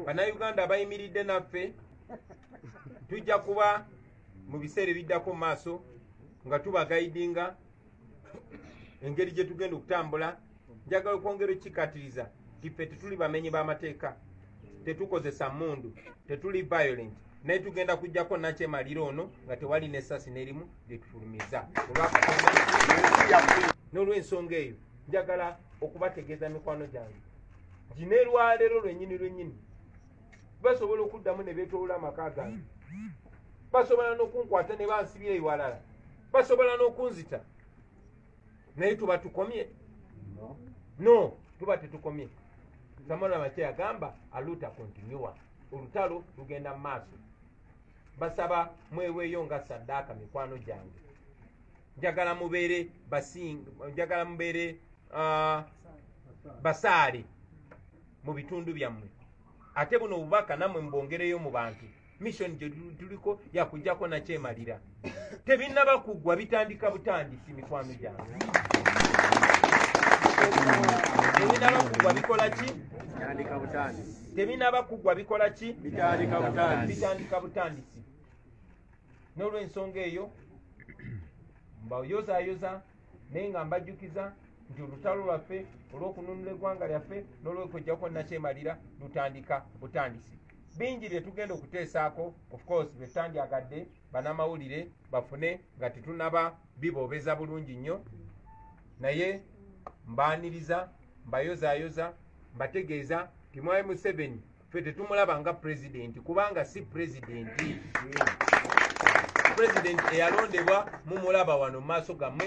bannayuganda abayimiridde naffe tujja kuba mu biseera ebiddako mu maaso nga tubagaidinga engeri gye tugenda okutambula njagala okwongera okukikatiriza tife tetuli bamenyi b'amateeka tetukozesa mundu tetuli violent naye tugenda kujjako nakyemaliro ono nga tewali nesasi nerimu lyetufulumiza olwakatonda n'olwensonga eyo njagala okubategeeza mikwano gyange gine lwaleero lwenyini lwenyini basobola okuddamu ne beetolola amaka gange basobola n'okunkwata ne bansibya ewalala basobola n'okunzita naye tuba tukomye no tuba tetukomye samala makye yagamba aluta kontinua olutalo lugenda mu maaso basaba mweweeyo nga saddaaka mikwano gyange njagala mubeere basing njagala mubeere uh, basaale mu bitundu byammwe ate buno obubaka nammwe mubongereyo mu bantu mission gye tuliko yakujjako nakyemalira tebinnaba kuggwa bitandika butandisi mikwano gyange tebinaba kugwa bikola ki tebinaba kugwa bikola ki bitandika butandisi n'olwensonga eyo mbayozayoza naye nga mbajjukiza nti olutalo lwaffe olw'okununula eggwanga lyaffe n'olwekojjako nakyemalira lutandika butandisi bingi bye tugenda okuteesaako ofcourse bye tutandyagadde banamawulire bafune nga tetunaba biboobeza bulungi nnyo naye mbaaniriza mbayozayoza mbategeeza timwai museveni ffe tetumulaba nga pulezidenti kubanga si pulezidenti pulezidenti eyalondebwa mumulaba wano mu maaso gammwe